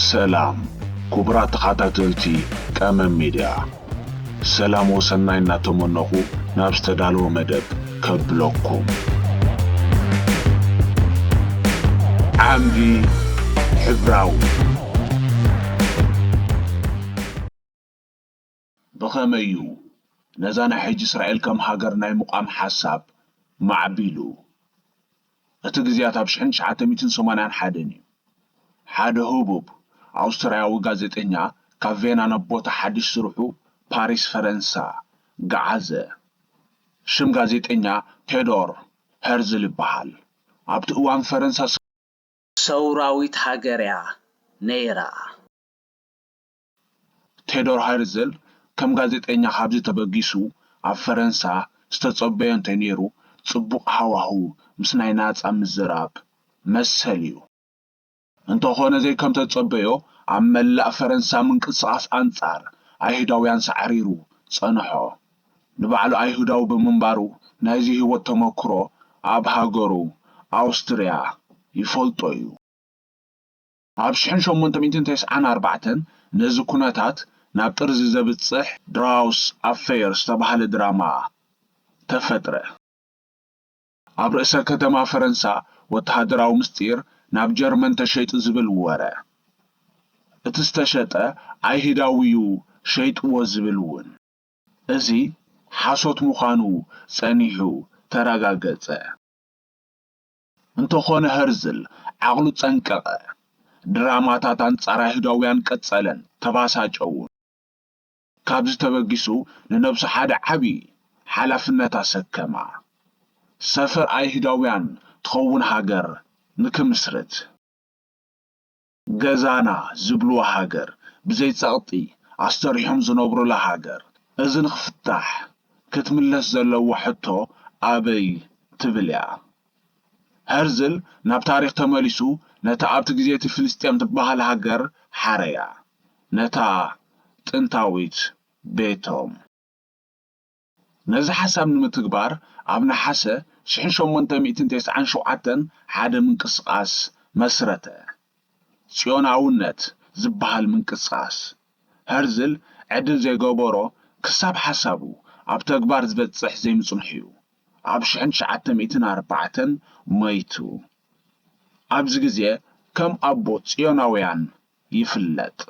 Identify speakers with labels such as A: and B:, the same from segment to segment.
A: ሰላም ኩቡራት ተኻታተልቲ ቀመም ሜድያ ሰላም ወሰናይ እናተመነኹ ናብ ዝተዳለወ መደብ ከብለኩም። ዓምዲ ሕብራዊ ብኸመይ እዩ ነዛ ናይ ሕጂ እስራኤል ከም ሃገር ናይ ምቛም ሓሳብ ማዕቢሉ? እቲ ግዜያት ኣብ ሽሕን ትሽዓተ ሚእትን ሰማንያን ሓደን እዩ። ሓደ ህቡብ ኣውስትርያዊ ጋዜጠኛ ካብ ቬና ናብ ቦታ ሓድሽ ስርሑ ፓሪስ ፈረንሳ ገዓዘ። ሽም ጋዜጠኛ ቴዶር ሀርዝል ይበሃል። ኣብቲ እዋን ፈረንሳ። ሰውራዊት ሃገር እያ ነይራ። ቴዶር ሀርዝል ከም ጋዜጠኛ ካብዚ ተበጊሱ ኣብ ፈረንሳ ዝተጸበዮ እንተነይሩ ጽቡቕ ሃዋህው ምስ ናይ ናጻ ምዝራብ መሰል እዩ። እንተኾነ ዘይከምተጸበዮ ኣብ መላእ ፈረንሳ ምንቅስቓስ ኣንጻር ኣይሁዳውያን ሳዕሪሩ ጸንሖ። ንባዕሉ ኣይሁዳዊ ብምንባሩ ናይዚ ህይወት ተመኩሮ ኣብ ሃገሩ ኣውስትርያ ይፈልጦ እዩ። ኣብ ሽሕን ሸሞንተ ሚእትን ተስዓን ኣርባዕተን ነዚ ኩነታት ናብ ጥርዚ ዘብጽሕ ድራውስ ኣፈይር ዝተባህለ ድራማ ተፈጥረ። ኣብ ርእሰ ከተማ ፈረንሳ ወተሃደራዊ ምስጢር ናብ ጀርመን ተሸይጡ ዝብል ወረ፣ እቲ ዝተሸጠ ኣይህዳዊ'ዩ ሸይጥዎ ዝብል'ውን። እዚ ሓሶት ምዃኑ ጸኒሑ ተረጋገጸ። እንተኾነ ሀርዝል ዓቕሉ ጸንቀቐ። ድራማታት ኣንጻር ኣይሁዳውያን ቀጸለን ተባሳጨውን። ካብዚ ተበጊሱ ንነብሱ ሓደ ዓቢ ሓላፍነት ኣሰከማ። ሰፈር ኣይሁዳውያን ትኸውን ሃገር ንክምስርት። ገዛና ዝብልዋ ሃገር ብዘይ ጸቕጢ ኣስተሪሖም ዝነብሩላ ሃገር እዚ ንክፍታሕ ክትምለስ ዘለዋ ሕቶ ኣበይ ትብል እያ። ሀርዝል ናብ ታሪኽ ተመሊሱ ነታ ኣብቲ ግዜ'ቲ ፍልስጤም ትበሃል ሃገር ሓረያ ነታ ጥንታዊት ቤቶም። ነዚ ሓሳብ ንምትግባር ኣብ ነሓሰ ሽሕን ሸሞንተ ሚእትን ተስዓን ሸውዓተን ሓደ ምንቅስቓስ መስረተ። ጽዮናውነት ዝበሃል ምንቅስቓስ። ሀርዝል ዕድል ዘይገበሮ ክሳብ ሓሳቡ ኣብ ተግባር ዝበጽሕ ዘይምጽንሑ'ዩ ኣብ ሽሕን ትሽዓተ ሚእትን ኣርባዕተን ሞይቱ። ኣብዚ ግዜ ከም ኣቦ ጽዮናውያን ይፍለጥ።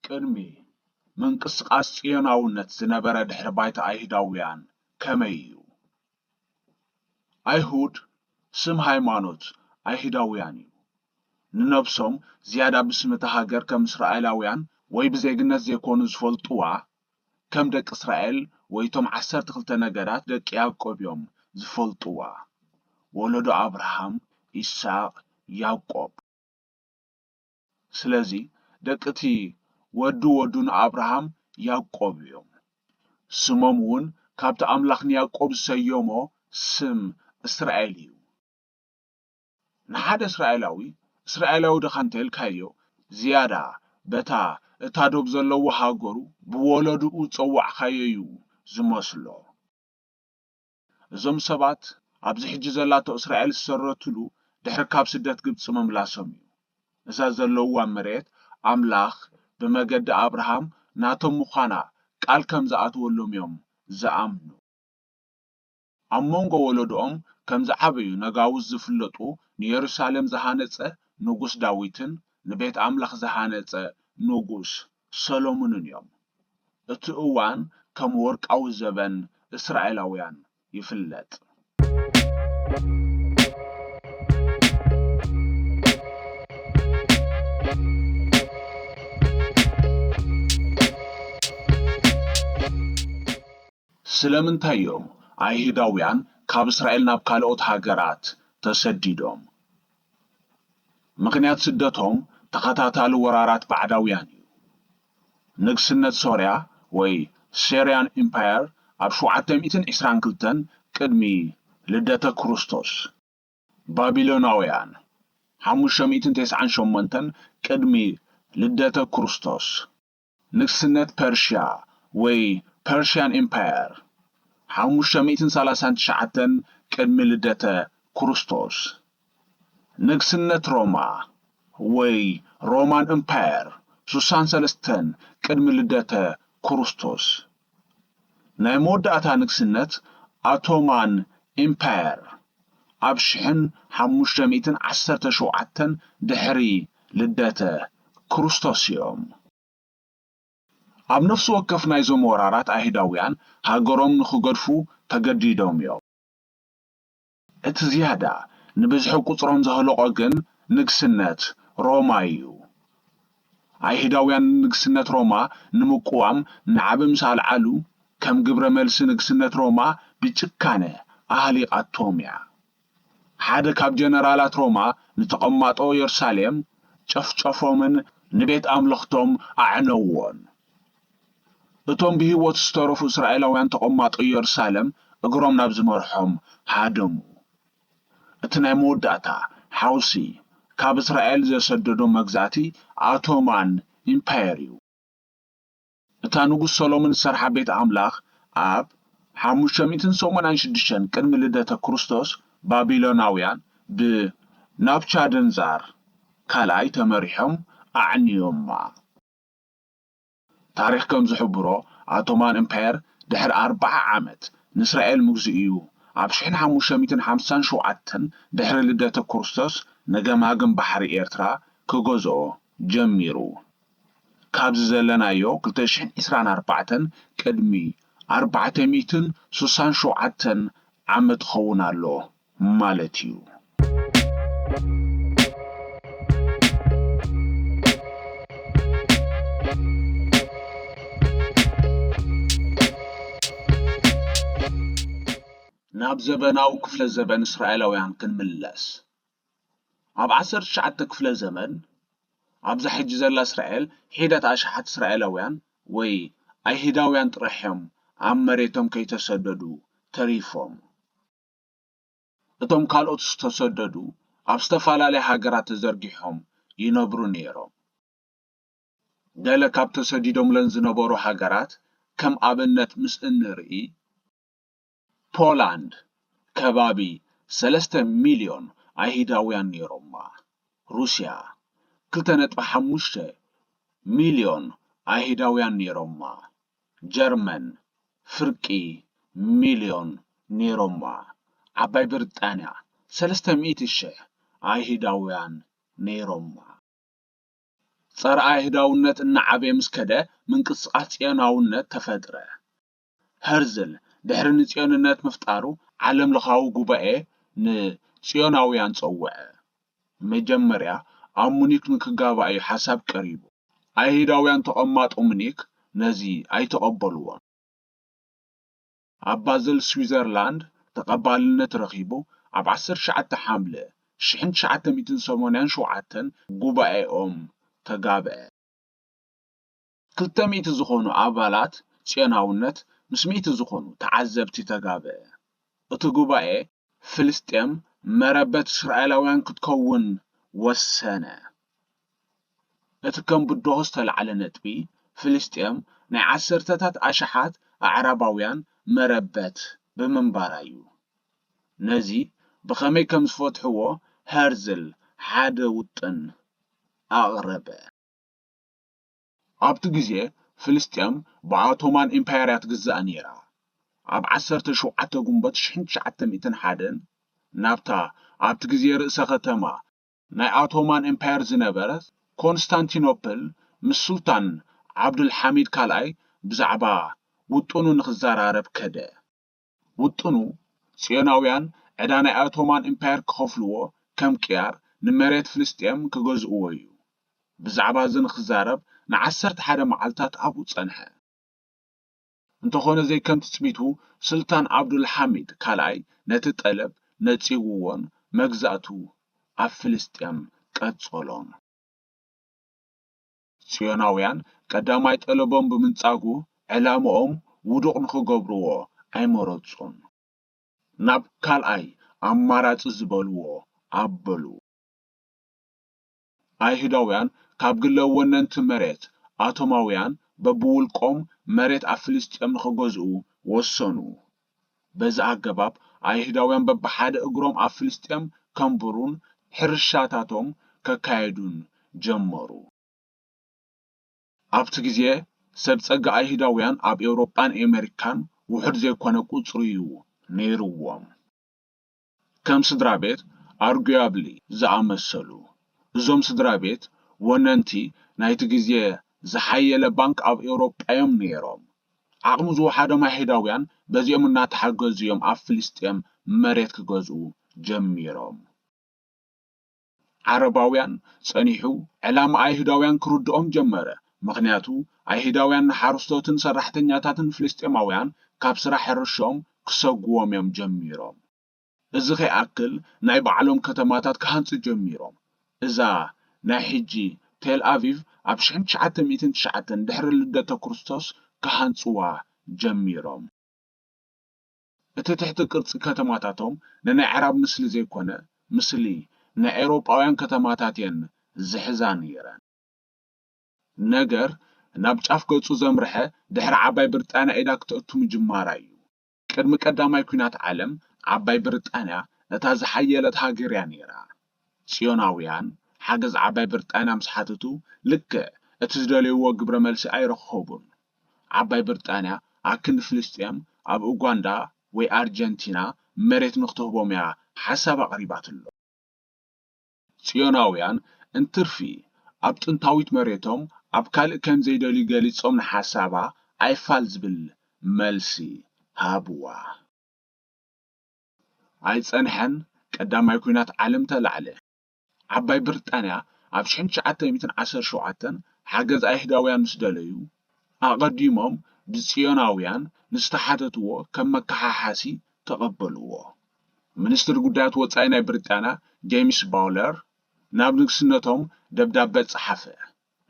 A: ቅድሚ ምንቅስቓስ ጽዮናውነት ዝነበረ ድሕሪ ባይታ ኣይሁዳውያን ከመይ እዩ? ኣይሁድ ስም ሃይማኖት ኣይሁዳውያን እዩ። ንነብሶም ዝያዳ ብስም እታ ሃገር ከም እስራኤላውያን ወይ ብዜግነት ዘይኮኑ ዝፈልጡዋ ከም ደቂ እስራኤል ወይ እቶም ዓሰርተ ክልተ ነገዳት ደቂ ያእቆብ እዮም ዝፈልጡዋ ወሎዶ ኣብርሃም ኢሳቅ ያእቆብ ስለዚ ደቂ እቲ ወዲ ወዱ ንኣብርሃም ያእቆብ እዮም ስሞም እውን ካብቲ ኣምላኽ ንያእቆብ ዝሰየሞ ስም እስራኤል እዩ። ንሓደ እስራኤላዊ እስራኤላዊ ድኻ እንተኢልካዮ ዝያዳ በታ እታ ዶብ ዘለዎ ሃገሩ ብወለድኡ ዝጸዋዕካዮ እዩ ዝመስሎ። እዞም ሰባት ኣብዚ ሕጂ ዘላቶ እስራኤል ዝሰረትሉ ድሕሪ ካብ ስደት ግብጺ ምምላሶም እዩ። እዛ ዘለውዋ መሬት ኣምላኽ ብመገዲ ኣብርሃም ናቶም ምዃና ቃል ከም ዝኣተወሎም እዮም ዝኣምኑ። ኣብ መንጎ ወለዶኦም ከም ዝዓበዩ ነጋውስ ዝፍለጡ ንየሩሳሌም ዝሃነጸ ንጉስ ዳዊትን ንቤት ኣምላኽ ዝሃነጸ ንጉስ ሰሎሙንን እዮም። እቲ እዋን ከም ወርቃዊ ዘበን እስራኤላውያን ይፍለጥ። ስለምንታይ እዮም ኣይህዳውያን ካብ እስራኤል ናብ ካልኦት ሃገራት ተሰዲዶም? ምኽንያት ስደቶም ተኸታታሊ ወራራት ባዕዳውያን እዩ። ንግስነት ሶርያ ወይ Syrian Empire ኣብ ሸውዓተ ሚእትን ዕስራን ክልተን ቅድሚ ልደተ ክርስቶስ፣ ባቢሎናውያን ሓሙሽተ ሚእትን ተስዓን ሸሞንተን ቅድሚ ልደተ ክርስቶስ፣ ንግስነት ፐርሽያ ወይ ፐርሽያን ኢምፓየር፣ ሓሙሽተ ሚእትን ሰላሳን ትሽዓተን ቅድሚ ልደተ ኩርስቶስ፣ ንግስነት ሮማ ወይ ሮማን እምፓየር፣ ሱሳን ሰለስተን ቅድሚ ልደተ ኩርስቶስ፣ ናይ መወዳእታ ንግስነት ኣቶማን ኢምፓየር ኣብ ሽሕን ሓሙሽተ ሚእትን ዓሰርተ ሸውዓተን ድሕሪ ልደተ ክሩስቶስ እዮም። ኣብ ነፍሲ ወከፍ ናይዞም ወራራት ኣይሁዳውያን ሃገሮም ንክገድፉ ተገዲዶም እዮም። እቲ ዝያዳ ንብዝሒ ቍጽሮም ዘህለቖ ግን ንግስነት ሮማ ኢዩ። ኣይሁዳውያን ንግስነት ሮማ ንምቅዋም ናዕቢ ምስ ኣልዓሉ፣ ከም ግብረ መልሲ ንግስነት ሮማ ብጭካነ ኣህሊቓቶም ኢያ። ሓደ ካብ ጀነራላት ሮማ ንተቐማጦ የሩሳሌም ጨፍጨፎምን ንቤት ኣምልኽቶም ኣዕነዉዎን። እቶም ብህይወት ዝተረፉ እስራኤላውያን ተቐማጦ የሩሳለም እግሮም ናብ ዝመርሖም ሃደሙ። እቲ ናይ መወዳእታ ሓውሲ ካብ እስራኤል ዘሰደዶም መግዛእቲ ኣቶማን ኢምፓየር እዩ። እታ ንጉስ ሰሎሞን ዝሰርሓ ቤት ኣምላኽ ኣብ ሓሙሽተ ሚእትን ሰማንያን ሽዱሽተን ቅድሚ ልደተ ክርስቶስ ባቢሎናውያን ብናቡቻደንዛር ካልኣይ ተመሪሖም ኣዕንዮማ። ታሪኽ ከም ዝሕብሮ ኣቶማን እምፓየር ድሕሪ ኣርብዓ ዓመት ንእስራኤል ምግዝኡ'ዩ። ኣብ ሽሕን ሓሙሽተ ሚእትን ሓምሳን ሸውዓተን ድሕሪ ልደተ ኩርስቶስ ንገማግም ባሕሪ ኤርትራ ክገዝኦ ጀሚሩ። ካብዚ ዘለናዮ ክልተ ሽሕን ዕስራን ኣርባዕተን ቅድሚ ኣርባዕተ ሚእትን ስሳን ሸውዓተን ዓመት ክኸውን ኣሎ። ማለት እዩ። ናብ ዘበናዊ ክፍለ ዘበን እስራኤላውያን ክንምለስ ኣብ ዓሰርተ ትሽዓተ ክፍለ ዘመን ኣብዛ ሕጂ ዘላ እስራኤል ሒደት ኣሽሓት እስራኤላውያን ወይ ኣይህዳውያን ጥራሕ እዮም ኣብ መሬቶም ከይተሰደዱ ተሪፎም። እቶም ካልኦት ዝተሰደዱ ኣብ ዝተፈላለያ ሃገራት ተዘርጊሖም ይነብሩ ነይሮም። ገለ ካብ ተሰዲዶምለን ዝነበሩ ሃገራት ከም ኣብነት ምስ እንርኢ፣ ፖላንድ ከባቢ ሰለስተ ሚልዮን ኣይህዳውያን ነይሮማ፣ ሩስያ ክልተ ነጥቢ ሓሙሽተ ሚልዮን ኣይህዳውያን ነይሮማ፣ ጀርመን ፍርቂ ሚልዮን ነይሮማ፣ ዓባይ ብሪጣንያ ሰለስተ ሚእቲ ሽሕ ኣይሁዳውያን ነይሮማ። ጸረ ኣይሁዳውነት እናዓበየ ምስ ከደ ምንቅስቓስ ጽዮናውነት ተፈጥረ። ሀርዝል ድሕሪ ንጽዮንነት ምፍጣሩ ዓለምለኻዊ ጉባኤ ንጽዮናውያን ጸውዐ። መጀመርያ ኣብ ሙኒክ ንክጋባእ እዩ ሓሳብ ቀሪቡ። ኣይሁዳውያን ተቐማጦ ሙኒክ ነዚ ኣይተቐበልዎን። ኣብ ባዘል ስዊዘርላንድ ተቐባልነት ረኺቡ ኣብ ዓሰርተ ትሽዓተ ሓምለ ሽሕን ትሽዓተ ሚእትን ሰማንያን ሸውዓተን ጉባኤኦም ተጋብኣ። ክልተ ሚእቲ ዝኾኑ ኣባላት ጽዮናውነት ምስ ሚእቲ ዝኾኑ ተዓዘብቲ ተጋበኤ። እቲ ጉባኤ ፍልስጤም መረበት እስራኤላውያን ክትከውን ወሰነ። እቲ ከም ብድሆ ዝተላዕለ ነጥቢ፣ ፍልስጤም ናይ ዓሰርተታት ኣሽሓት ኣዕራባውያን መረበት ብምንባራ'ዩ። ነዚ ብኸመይ ከም ዝፈትሕዎ ሀርዝል ሓደ ውጥን ኣቕረበ። ኣብቲ ግዜ ፍልስጤም ብኣቶማን ኢምፓየር እያ ትግዛእ ነይራ። ኣብ ዓሰርተ ሸውዓተ ጉንበት ሽሕን ትሽዓተ ሚእትን ሓደን ናብታ ኣብቲ ግዜ ርእሰ ከተማ ናይ ኣቶማን ኢምፓየር ዝነበረት ኮንስታንቲኖፕል ምስ ሱልጣን ዓብዱልሓሚድ ካልኣይ ብዛዕባ ውጥኑ ንኽዘራረብ ከደ። ውጥኑ፣ ጽዮናውያን ዕዳ ናይ ኣቶማን ኢምፓየር ክኸፍልዎ፣ ከም ቅያር፣ ንመሬት ፍልስጤም ክገዝእዎ እዩ። ብዛዕባ እዚ ንኽዛረብ ንዓሰርተ ሓደ መዓልታት ኣብኡ ጸንሐ። እንተኾነ ዘይከም ትጽቢቱ፣ ስልጣን ዓብዱል ሓሚድ ካልኣይ ነቲ ጠለብ ነጺግዎን መግዛእቱ ኣብ ፍልስጤም ቀጸሎን። ጽዮናውያን ቀዳማይ ጠለቦም ብምንጻጉ ዕላምኦም ውዱቕ ንኽገብርዎ ኣይመረጹን። ናብ ካልኣይ ኣማራጺ ዝበልዎ ኣበሉ። ኣይሁዳውያን ካብ ግለ ወነንቲ መሬት ኣቶማውያን በብውልቆም መሬት ኣብ ፍልስጥኤም ንኽገዝኡ ወሰኑ። በዚ ኣገባብ ኣይሁዳውያን በብሓደ እግሮም ኣብ ፍልስጥኤም ከንብሩን ሕርሻታቶም ከካየዱን ጀመሩ። ኣብቲ ግዜ ሰብ ጸጋ ኣይሁዳውያን ኣብ ኤውሮጳን ኤመሪካን ውሑድ ዘይኮነ ቁጽሪ'ዩ ነይርዎም። ከም ስድራ ቤት ኣርጉያብሊ ዝኣመሰሉ። እዞም ስድራ ቤት ወነንቲ ናይቲ ግዜ ዝሓየለ ባንክ ኣብ ኤውሮጳ'ዮም ነይሮም። ዓቕሚ ዝወሓዶም ኣይሁዳውያን በዚኦም እናተሓገዙ'ዮም ኣብ ፍልስጤም መሬት ክገዝኡ ጀሚሮም። ዓረባውያን፣ ጸኒሑ ዕላማ ኣይሁዳውያን ክርድኦም ጀመረ፣ ምኽንያቱ ኣይሁዳውያን ንሓረስቶትን ሰራሕተኛታትን ፍልስጤማውያን ካብ ስራሕ ሕርሻኦም ክሰጉዎም እዮም ጀሚሮም። እዚ ከይኣክል ናይ ባዕሎም ከተማታት ክሃንጹ ጀሚሮም፣ እዛ ናይ ሕጂ ቴል ኣቪቭ ኣብ ሽሕን ትሽዓተ ሚእትን ትሽዓተን ድሕሪ ልደተ ክርስቶስ ክሃንጽዋ ጀሚሮም። እቲ ትሕቲ ቅርጺ ከተማታቶም ንናይ ኣዕራብ ምስሊ ዘይኮነ ምስሊ ናይ ኤውሮጳውያን ከተማታት እየን ዝሕዛ ነይረን። ነገር ናብ ጫፍ ገጹ ዘምርሐ ድሕሪ ዓባይ ብርጣንያ ኢዳ ክተእቱ ምጅማራ እዩ። ቅድሚ ቀዳማይ ኲናት ዓለም ዓባይ ብርጣንያ እታ ዝሓየለት ሃገር እያ ነይራ። ጽዮናውያን ሓገዝ ዓባይ ብርጣንያ ምስ ሓተቱ ልክዕ እቲ ዝደለይዎ ግብረ መልሲ ኣይረኸቡን። ዓባይ ብርጣንያ ኣክንዲ ፍልስጤም ኣብ ኡጋንዳ ወይ ኣርጀንቲና መሬት ንክትህቦም እያ ሓሳብ ኣቕሪባትሎም። ጽዮናውያን እንትርፊ ኣብ ጥንታዊት መሬቶም ኣብ ካልእ ከም ዘይደልዩ ገሊጾም ንሓሳባ ኣይፋል ዝብል መልሲ ሃብዋ። ኣይጸንሐን፣ ቀዳማይ ኲናት ዓለም ተላዕለ። ዓባይ ብሪጣንያ ኣብ ሽሕን ትሽዓተ ሚእትን ዓሰርተ ሸውዓተን ሓገዝ ኣይሁዳውያን ምስ ደለዩ፣ ኣቐዲሞም ብጽዮናውያን ንዝተሓተትዎ ከም መከሓሓሲ ተቐበልዎ። ሚኒስትሪ ጉዳያት ወጻኢ ናይ ብሪጣንያ ጀይምስ ባውለር ናብ ንግስነቶም ደብዳበ ጸሓፈ።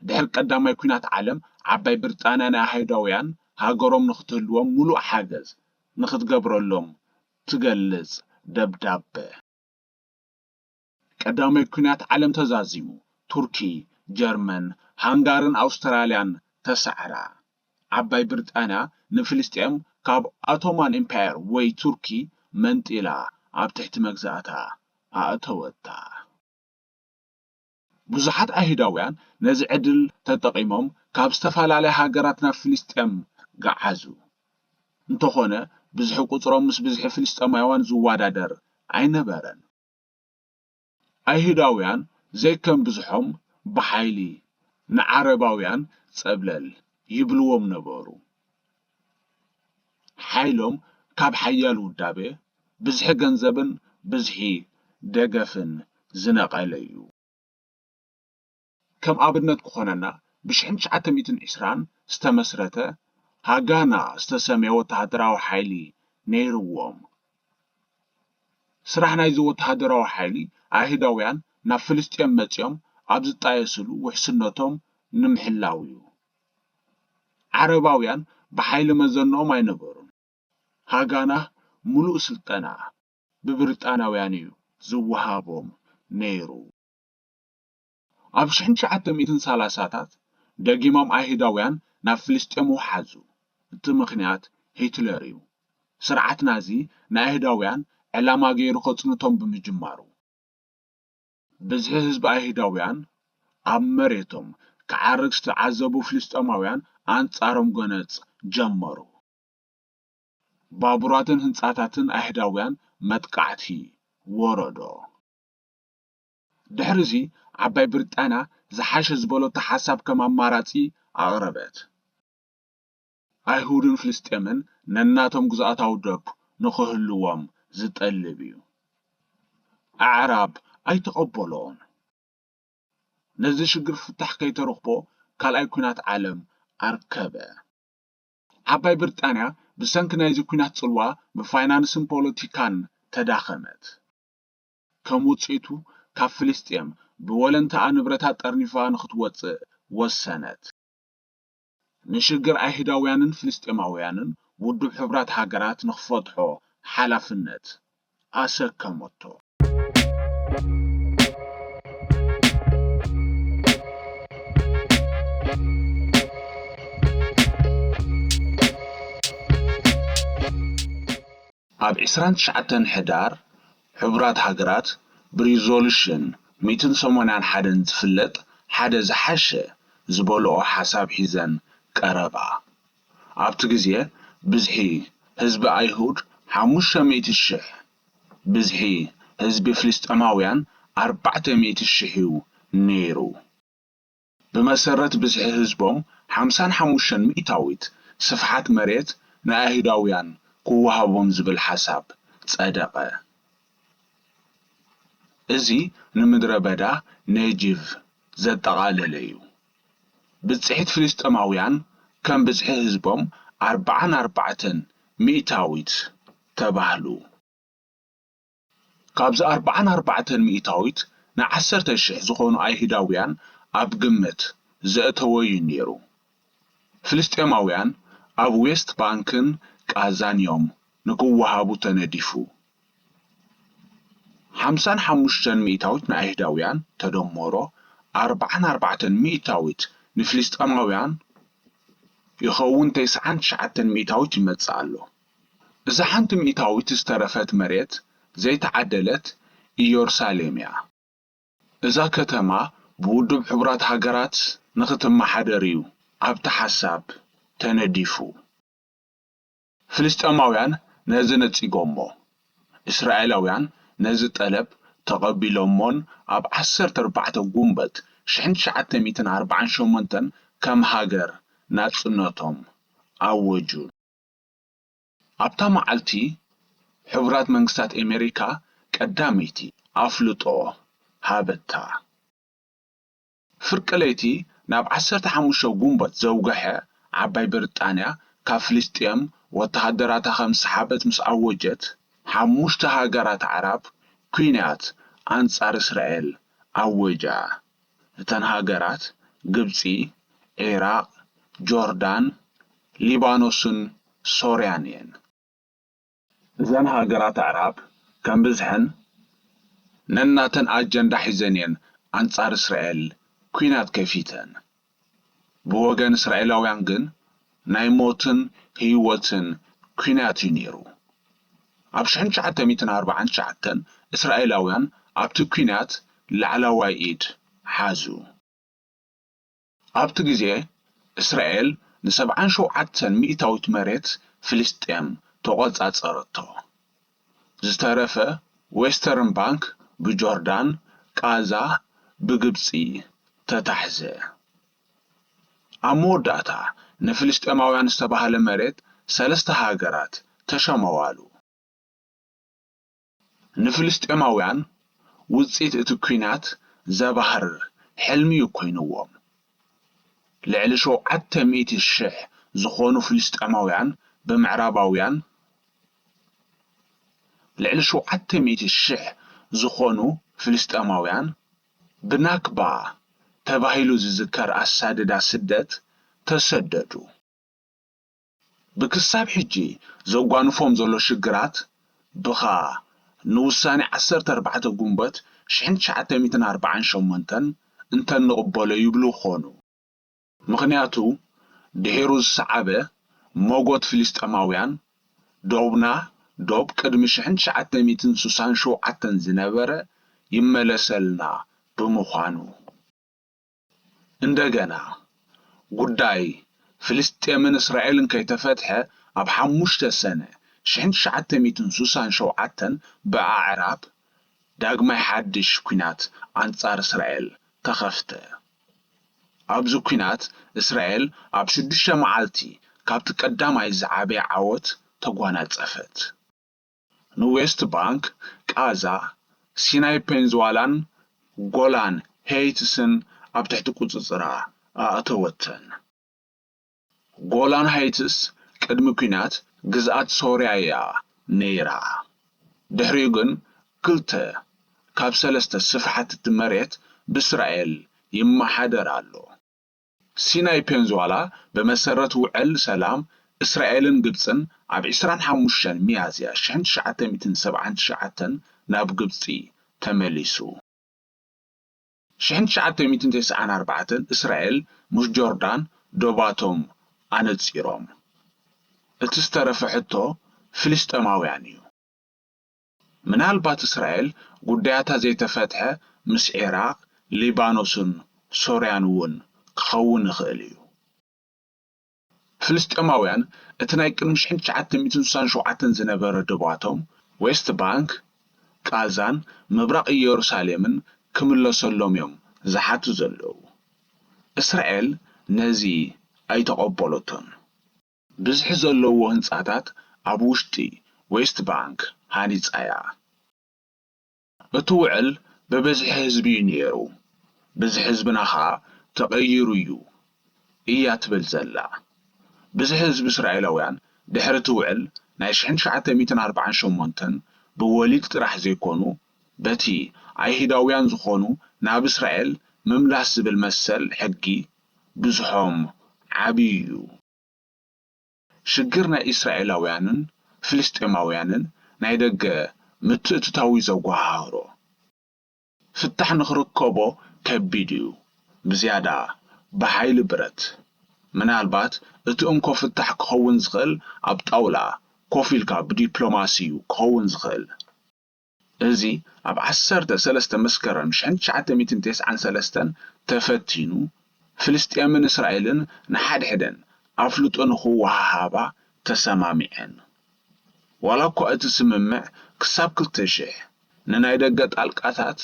A: ድሕሪ ቀዳማይ ኲናት ዓለም፣ ዓባይ ብርጣንያ ንኣይሁዳውያን ሃገሮም ንኽትህልዎም ምሉእ ሓገዝ ንኽትገብረሎም ትገልጽ ደብዳበ። ቀዳማይ ኲናት ዓለም ተዛዚሙ፣ ቱርኪ፣ ጀርመን፣ ሃንጋርን ኣውስትራልያን ተሳዕራ። ዓባይ ብርጣንያ ንፍልስጤም ካብ ኣቶማን ኢምፓየር ወይ ቱርኪ መንጢላ ኣብ ትሕቲ መግዛእታ ኣእተወታ። ብዙሓት ኣይሁዳውያን ነዚ ዕድል ተጠቒሞም ካብ ዝተፈላለያ ሃገራት ናብ ፍልስጤም ገዓዙ። እንተዀነ ብዝሒ ቍጽሮም ምስ ብዝሒ ፍልስጤማውያን ዝወዳደር ኣይነበረን። ኣይሁዳውያን ዘይከም ብዝሖም ብሓይሊ ንዓረባውያን ጸብለል ይብልዎም ነበሩ። ሓይሎም ካብ ሓያል ውዳበ፣ ብዝሒ ገንዘብን ብዝሒ ደገፍን ዝነቐለ እዩ። ከም ኣብነት ክኾነና ብሽሕን ትሽዓተ ሚእትን ዕስራን ዝተመስረተ ሃጋና ዝተሰምየ ወተሃደራዊ ሓይሊ ነይርዎም። ስራሕ ናይዚ ወተሃደራዊ ሓይሊ ኣይሁዳውያን ናብ ፍልስጤም መጺኦም ኣብ ዝጣየስሉ ውሕስነቶም ንምሕላው እዩ። ዓረባውያን ብሓይሊ መዘንኦም ኣይነበሩን። ሃጋና ምሉእ ስልጠና ብብሪጣንያውያን እዩ ዝወሃቦም ነይሩ። ኣብ ሽሕን ትሽዓተ ሚእትን ሰላሳታት ደጊሞም ኣይሁዳውያን ናብ ፍልስጤም ወሓዙ። እቲ ምኽንያት ሂትለር እዩ። ስርዓት ናዚ ንኣይሁዳውያን ዕላማ ገይሩ ከጽንቶም ብምጅማሩ። ብዝሒ ህዝቢ ኣይሁዳውያን ኣብ መሬቶም ክዓርግ ዝተዓዘቡ ፍልስጤማውያን ኣንጻሮም ጎነጽ ጀመሩ። ባቡራትን ህንጻታትን ኣይሁዳውያን መጥቃዕቲ ወረዶ። ድሕሪ'ዚ ዓባይ ብሪጣንያ ዝሓሸ ዝበለቶ ሓሳብ ከም ኣማራጺ ኣቕረበት። ኣይሁድን ፍልስጤምን ነናቶም ግዝኣታዊ ዶብ ንኽህልዎም ዝጠልብ እዩ። ኣዕራብ ኣይተቐበልኦን። ነዚ ሽግር ፍታሕ ከይተረኽቦ ካልኣይ ኲናት ዓለም ኣርከበ። ዓባይ ብርጣንያ ብሰንኪ ናይዚ ኲናት ጽልዋ ብፋይናንስን ፖለቲካን ተዳኸመት። ከም ውጽኢቱ ካብ ፍልስጤም ብወለንታኣ ንብረታ ጠርኒፋ ንኽትወጽእ ወሰነት። ንሽግር ኣይሁዳውያንን ፍልስጤማውያንን ውድብ ሕቡራት ሃገራት ንኽፈትሖ ሓላፍነት ኣሰከመቶ። ኣብ ዕስራን ትሽዓተን ሕዳር ሕቡራት ሃገራት ብሪዞሉሽን ሚእትን ሰማንያን ሓደን ዝፍለጥ ሓደ ዝሓሸ ዝበልኦ ሓሳብ ሒዘን ቀረባ። ኣብቲ ግዜ ብዝሒ ህዝቢ ኣይሁድ ሓሙሽተ ሚእቲ ሽሕ፣ ብዝሒ ህዝቢ ፍልስጤማውያን ኣርባዕተ ሚእቲ ሽሕ'ዩ ነይሩ። ብመሰረት ብዝሒ ህዝቦም ሓምሳን ሓሙሽተን ሚእታዊት ስፍሓት መሬት ንኣይሁዳውያን ክወሃቦም ዝብል ሓሳብ ጸደቐ። እዚ ንምድረ በዳ ኔጂቭ ዘጠቓለለ እዩ። ብጽሒት ፍልስጤማውያን ከም ብዝሒ ህዝቦም ኣርብዓን ኣርባዕተን ሚእታዊት ተባህሉ። ካብዚ ኣርብዓን ኣርባዕተን ሚእታዊት ንዓሰርተ ሽሕ ዝኾኑ ኣይሁዳውያን ኣብ ግምት ዘእተወ'ዩ ነይሩ። ፍልስጤማውያን ኣብ ዌስት ባንክን ቃዛን'ዮም ንክወሃቡ ተነዲፉ። ሓምሳን ሓሙሽተን ሚእታዊት ንኣይሁዳውያን ተደሞሮ ኣርብዓን ኣርባዕተን ሚእታዊት ንፍልስጤማውያን ይኸውን ተስዓን ትሽዓተን ሚእታዊት ይመጽእ ኣሎ። እዛ ሓንቲ ሚእታዊት ዝተረፈት መሬት ዘይተዓደለት ኢዮርሳሌም'ያ። እዛ ከተማ ብውድብ ሕቡራት ሃገራት ንኽትመሓደር'ዩ ኣብቲ ሓሳብ ተነዲፉ። ፍልስጤማውያን ነዚ ነጺጎሞ። እስራኤላውያን ነዚ ጠለብ ተቐቢሎሞን ኣብ ዓሰርተ ኣርባዕተ ጉንበት ሽሕን ትሽዓተ ሚእትን ኣርባዓን ሸሞንተን ከም ሃገር ናጽነቶም ኣወጁን። ኣብታ መዓልቲ፣ ሕቡራት መንግስታት ኣሜሪካ ቀዳመይቲ ኣፍልጦ ሃበታ። ፍርቂ ለይቲ ናብ ዓሰርተ ሓሙሽተ ጉንበት ዘውገሐ ዓባይ ብርጣንያ ካብ ፍልስጤም ወተሃደራታ ከም ዝሰሓበት ምስ ኣወጀት፣ ሓሙሽተ ሃገራት ኣዕራብ ኲናት ኣንጻር እስራኤል ኣወጃ። እተን ሃገራት ግብጺ፣ ዒራቕ፣ ጆርዳን፣ ሊባኖስን ሶርያን እየን። እዘን ሃገራት ኣዕራብ ከም ብዝሐን ነናተን ኣጀንዳ ሒዘን እየን ኣንጻር እስራኤል ኲናት ከፊተን። ብወገን እስራኤላውያን ግን ናይ ሞትን ህይወትን ኲናት እዩ ነይሩ። ኣብ ሽሕን ትሽዓተ ሚእትን ኣርብዓን ትሽዓተን እስራኤላውያን ኣብቲ ኲናት ላዕላዋይ ኢድ ሓዙ። ኣብቲ ግዜ እስራኤል ንሰብዓን ሸውዓተን ሚእታዊት መሬት ፍልስጤም ተቖጻጸረቶ። ዝተረፈ ዌስተርን ባንክ ብጆርዳን፣ ቓዛ ብግብጺ ተታሕዘ። ኣብ መወዳእታ ንፍልስጤማውያን ዝተባህለ መሬት ሰለስተ ሃገራት ተሸመዋሉ። ንፍልስጤማውያን ውጽኢት እቲ ኲናት ዘባህርር ሕልሚ'ዩ ኮይንዎም። ልዕሊ ሸውዓተ ሚእቲ ሽሕ ዝኾኑ ፍልስጤማውያን ብምዕራባውያን ልዕሊ ሸውዓተ ሚእቲ ሽሕ ዝኾኑ ፍልስጤማውያን ብናክባ ተባሂሉ ዝዝከር ኣሳድዳ ስደት ተሰደዱ። ብክሳብ ሕጂ ዘጓንፎም ዘሎ ሽግራት ብኻ ንውሳኔ ዓሰርተ ኣርባዕተ ጉንበት ሽሕን ትሽዓተ ሚእትን ኣርባዓን ሸሞንተን እንተንቕበሎ ይብሉ ኮኑ። ምኽንያቱ ድሒሩ ዝሰዓበ ሞጎት ፍልስጤማውያን ዶብና ዶብ ቅድሚ ሽሕን ትሽዓተ ሚእትን ስሳን ሸውዓተን ዝነበረ ይመለሰልና ብምዃኑ እንደገና ጉዳይ ፍልስጤምን እስራኤልን ከይተፈትሐ ኣብ ሓሙሽተ ሰነ ሽሕን ትሽዓተ ሚእትን ስሳን ሸውዓተን ብኣዕራብ ዳግማይ ሓድሽ ኩናት ኣንጻር እስራኤል ተኸፍተ። ኣብዚ ኲናት፣ እስራኤል ኣብ ሽዱሽተ መዓልቲ ካብቲ ቀዳማይ ዝዓበየ ዓወት ተጓናጸፈት። ንዌስት ባንክ፣ ቓዛ፣ ሲናይ ፔንዝዋላን ጎላን ሄይትስን ኣብ ትሕቲ ቁጽጽራ ኣእተወተን። ጎላን ሃይትስ ቅድሚ ኲናት ግዝኣት ሶርያ'ያ ነይራ። ድሕሪኡ ግን ክልተ ካብ ሰለስተ ስፍሓት'ቲ መሬት ብእስራኤል ይመሓደር ኣሎ። ሲናይ ፔንዙዋላ ብመሰረት ውዕል ሰላም እስራኤልን ግብጽን ኣብ ዕስራን ሓሙሽተን ሚያዝያ ሽሕን ትሽዓተ ሚእትን ሰብዓን ትሽዓተን ናብ ግብጺ ተመሊሱ። ሽሕን ትሽዓተ ሚእትን ተስዓን ኣርባዕተን እስራኤል ምስ ጆርዳን ዶባቶም ኣነጺሮም። እቲ ዝተረፈ ሕቶ ፍልስጤማውያን እዩ። ምናልባት እስራኤል ጉዳያታ ዘይተፈትሐ ምስ ዒራቕ፣ ሊባኖስን ሶርያን እውን ክኸውን ይኽእል እዩ። ፍልስጤማውያን እቲ ናይ ቅድሚ ሽሕን ትሽዓተ ሚእትን ስሳን ሸውዓተን ዝነበረ ዶባቶም፣ ዌስት ባንክ፣ ቓዛን ምብራቕ ኢየሩሳሌምን ክምለሰሎም'ዮም ዝሓቱ ዘለዉ። እስራኤል ነዚ ኣይተቐበለቶን። ብዝሒ ዘለዎ ህንጻታት ኣብ ውሽጢ ዌስት ባንክ ሃኒጻ'ያ። እቲ ውዕል ብብዝሒ ህዝቢ እዩ ነይሩ ብዝሒ ህዝብና ከኣ ተቐይሩ እዩ እያ ትብል ዘላ። ብዝሒ ህዝቢ እስራኤላውያን ድሕሪ እቲ ውዕል ናይ ሽሕን ትሽዓተ ሚእትን ኣርብዓን ሸሞንተን ብወሊድ ጥራሕ ዘይኮኑ በቲ ኣይህዳውያን ዝኾኑ ናብ እስራኤል ምምላስ ዝብል መሰል ሕጊ ብዝሖም ዓብዩ እዩ። ሽግር ናይ ኢስራኤላውያንን ፍልስጤማውያንን ናይ ደገ ምትእትታው'ዩ ዘጓሃህሮ። ፍታሕ ንኽርከቦ ከቢድ'ዩ፣ ብዝያዳ ብሓይሊ ብረት። ምናልባት እቲ እንኮ ፍታሕ ክኸውን ዝኽእል ኣብ ጣውላ ኮፍ ኢልካ ብዲፕሎማሲ'ዩ ክኸውን ዝኽእል። እዚ ኣብ ዓሰርተ ሰለስተ መስከረም ሽሕን ትሽዓተ ሚእትን ቴስዓን ሰለስተን ተፈቲኑ፣ ፍልስጤምን እስራኤልን ንሓድሕደን ኣፍልጦ ንኽወሃሃባ ተሰማሚዐን። ዋላኳ እቲ ስምምዕ ክሳብ ክልተ ሽሕ ንናይ ደገ ጣልቃታት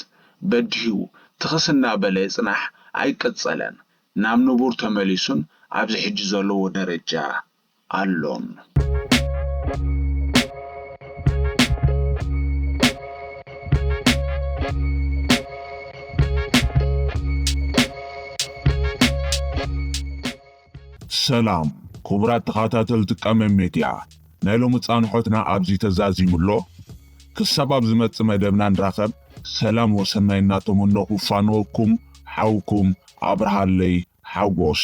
A: በዲሁ ትኽስ እናበለ ይጽናሕ ኣይቀጸለን፣ ናብ ንቡር ተመሊሱን ኣብዚ ሕጂ ዘለዎ ደረጃ ኣሎን።
B: ሰላም ኩቡራት ተኻታተልቲ ቀመም ሜድያ ናይ ሎሚ ጻንሖትና ኣብዚ ተዛዚሙ ኣሎ ክሳብ ኣብ ዝመጽእ መደብና ንራኸብ ሰላም ወሰናይ እናተመነኹ እፋነወኩም ሓውኩም ኣብርሃለይ ሓጎስ።